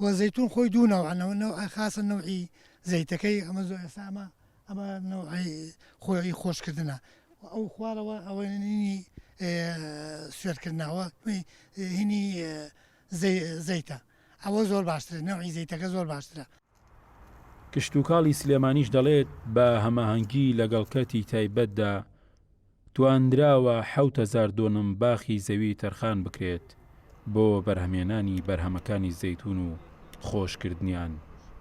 وە زەیتون خۆی دوو نەوعە نەوع نەوع خاسە نەوعی زەیتەکەی ئەمە زۆر ئێستا ئەمە ئەمە نەوعی خۆی خۆشکردنە و ئەو خوارەوە ئەوە نینی سوێرکردنەوە هینی زەیتە ئەوە زۆر باشترە نەوعی زەیتەکە زۆر باشترە کشتوکاڵی سلێمانیش دەڵێت، بە هەماهەنگی لەگەڵ کەرتی تایبەتدا، توانراوە حەوت هەزار دۆنم باخی زەوی تەرخان بکرێت بۆ بەرهەمهێنانی بەرهەمەکانی زەیتون و خۆشکردنیان،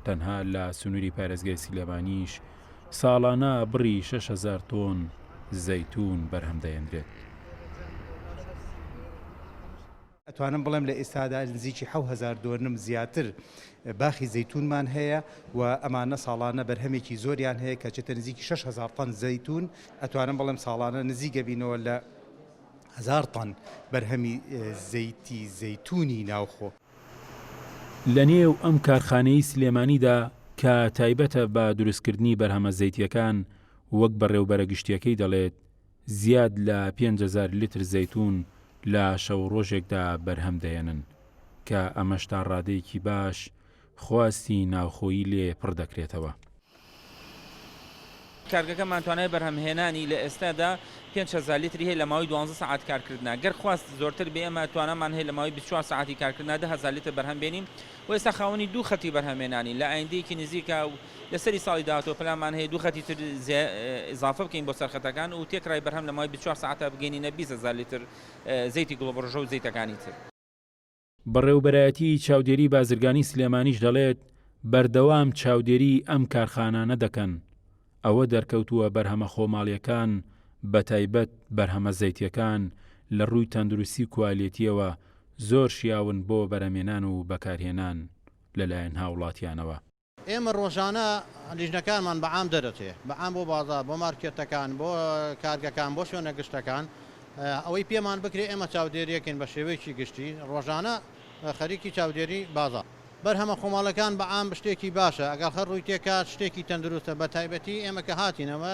تەنها لە سنوری پارێزگای سلێمانیش ساڵانە بڕی شەش هەزار تۆن زەیتون بەرهەمدەهێنرێت. ئەتوانم بڵێم لە ئێستادا نزیکی حەو هەزار دۆنم زیاتر باخی زەیتونمان هەیە و ئەمانە ساڵانە بەرهەمێکی زۆریان هەیە کە چێتە نزیکی 6 هزار تەن زەیتون ئەتوانم بڵێم ساڵانە نزیک گەبینەوە لە هزار تەن بەرهەمی زەیتی زەیتونی ناوخۆ. لە نێو ئەم کارخانەی سلێمانیدا کە تایبەتە بە دروستکردنی بەرهەمە زەیتیەکان وەک بەڕێوبەرە گشتیەکەی دەڵێت زیاد لە پێنج هەزار لیتر زەیتوون لە شەو ڕۆژێکدا بەرهەم دەهێنن، کە ئەمەش تا ڕادەیەکی باش خواستی ناوخۆیی لێ پڕ دەکرێتەوە. کارگەکەمان توانای بەرهەمهێنانی لە ئێستادا پێنج هەزار لیتری هەیە لە ماوەی دوازدە سەعات کارکردنا، گەر خواست زۆرتر بێ ئێمە توانامان هەیە لە ماوەی بیست و چوار سەعاتی کارکردنا دە هەزار لیتر بەرهەم بێنین و ئێستا خاوەنی دوو خەتی بەرهەمهێنانین لە ئایندەیەکی نزیکا لەسەری ساڵی داهاتوو پلانمان هەیە دوو خەتی تر ئیزافە بکەین بۆ سەر خەتەکان و تێکرای بەرهەم لە ماوەی بیست و چوار سەعاتدا بگەینینە بیست هەزار لیتر زەیتی گوڵەبڕژە و زەیتەکانی تر. بەڕێوبەرایەتیی چاودێریی بازرگانیی سلێمانیش دەڵێت، بەردەوام چاودێریی ئەم کارخانانە دەکەن، ئەوە دەرکەوتووە بەرهەمە خۆماڵییەکان بەتایبەت بەرهەمە زەیتییەکان لە رووی تەندروستی و کوالێتییەوە زۆر شیاون بۆ بەرەمێنان و بەکارهێنان لەلایەن هاوڵاتیانەوە. ئێمە ڕۆژانە لیژنەکانمان بە عام دەدەچێت بە عام بۆ بازاڕ بۆ مارکێتەکان بۆ کارگەکان بۆ شوێنە گشتەکان ئەوەی پێمان بکرێت ئێمە چاودێریەکەین بە شێوەیەکی گشتی ڕۆژانە خەریکی چاودێری بازاڕ بەرهەمە خۆماڵەکان بە عام شتێکی باشە ئەگەڵ هەر ڕووی تێکات شتێکی تەندروستە بە تایبەتی ئێمە کە هاتینەوە